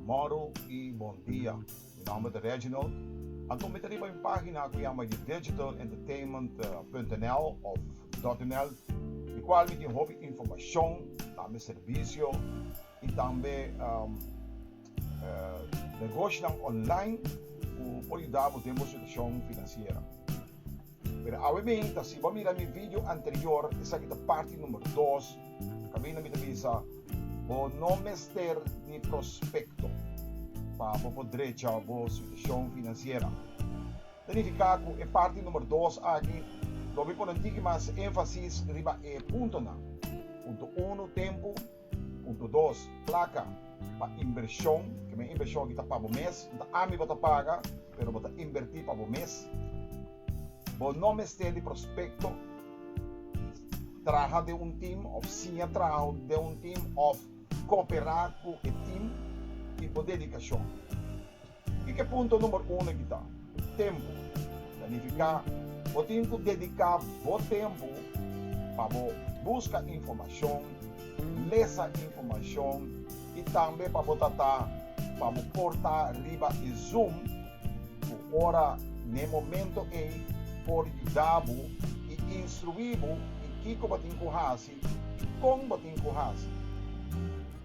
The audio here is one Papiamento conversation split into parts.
Moro y bon dia. Mi nomber ta Reginald. Anto mi ta riba un pagina cu yama di digitalentertainment.nl of .nl di cual mi tin hopi informacion na mi servicio y tambe Negoshinan online cu por yuda bo den bo situacion financiera. Pero awe bin ta si bo a mira mi video anterior, esaki ta parti number dos, caminda mi ta bisa bo no mester ni prospecto pa bo por drecha bo situacion financiera. Ta nifica cu e parti number dos aki lo mi pone un tiki mas enfasis riba e puntonan. Punto uno, tempo. Punto dos, Plaka pa inbershon. Kibé inbershon aki ta pa bo mes. No ta ami bo ta paga, pero bo ta inbertí pa bo mes. Bo no mester di prospekto, traha den un tim òf siña traho den un tim òf koperá ku e tim i bo dedikashon. Kiko punto number uno e kita? Tempu. Ta nifiká bo tin ku dediká bo tempu pa bo buska informashon, lesa informashon i tambe pa bo tratá pa bo por ta riba e zoom ku ora n'e momento ei por yuda bo i instruí bo di kiko bo tin ku hasi i kon bo tin ku hasi.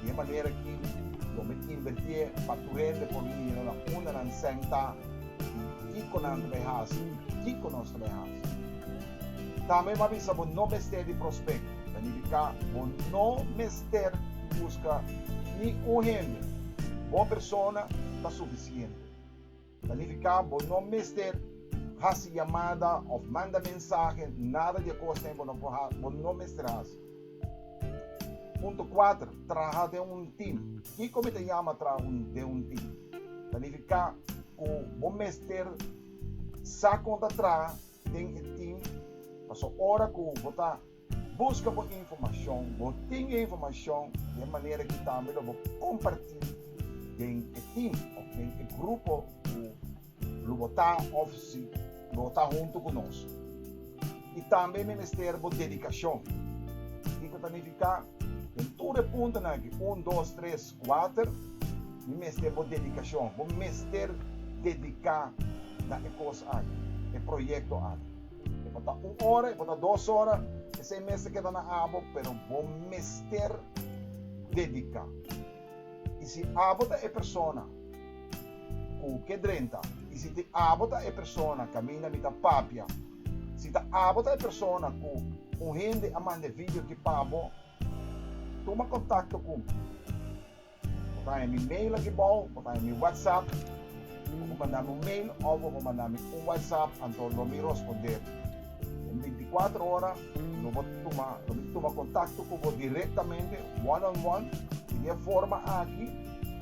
Di e manera aki lo mi invertié pa tur hende por mira na unda nan sentá i kiko nan ta bay hasi i kiko nos ta bay hasi. Tambe bo a bisa bo no mester di prospecto, ta nifiká bo no mester buska ni un hende, bo persona ta suficiente. Ta lirika, bo no mester hasi yamada of manda mensahe, nada di e kosnan bo no por hasi, bo no mester hasi. Punto kuater, traha den un tim. Kiko mi ta yama traha un, den un tim? Ta lirika ku bo mester sa kon ta traha den e tim, paso ora ku bo ta. Buska bo informashon. Bo tin e informashon den manera ki tambe lo bo kompartí den e tim òf den e grupo ku lo bo ta òf si lo bo ta huntu ku nos. I tambe mester bo dedikashon. Kiko ta nifiká? Den tur e puntonan aki, un, dos, tres, Walter, Mi mester bo dedikashon. Bo mester dediká na e kos aki, e proyekto aki. E por ta un ora, e por ta dos ora, esei mester keda na abo, pero bo mester dediká. I si abo ta e persona ku ke drenta, i si te abo ta e persona kaminda mi ta papia, si ta abo ta e persona ku un hende a manda e video ki pa bo, Tuma kontakto ku mi. Bo ta haya mi mail aki bou, bo ta haya mi whatsapp. Bo por manda mi un mail of bo por manda mi un whatsapp anto lo mi rosponder den binticuatro ora. Lo bo tuma, lo mi tuma kontakto ku bo direktamente, one on one. I di e forma aki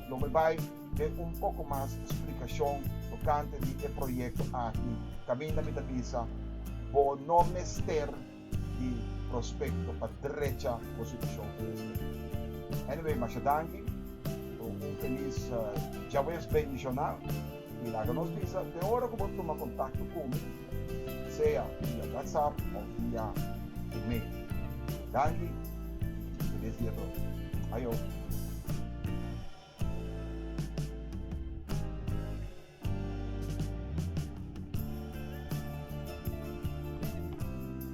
lo mi bai den un poko mas splikashon tokante di e proyekto aki kaminda mi ta bisa bo no mester. di prospecto pa drecha bo su decision e mes tempo. Anyway, masha danki cu un feliz Djaweves bendicional y laga nos bisa te ora cu bo tuma contacto cu mi, sea via WhatsApp of via email. Danki y feliz dia todo. Ajo!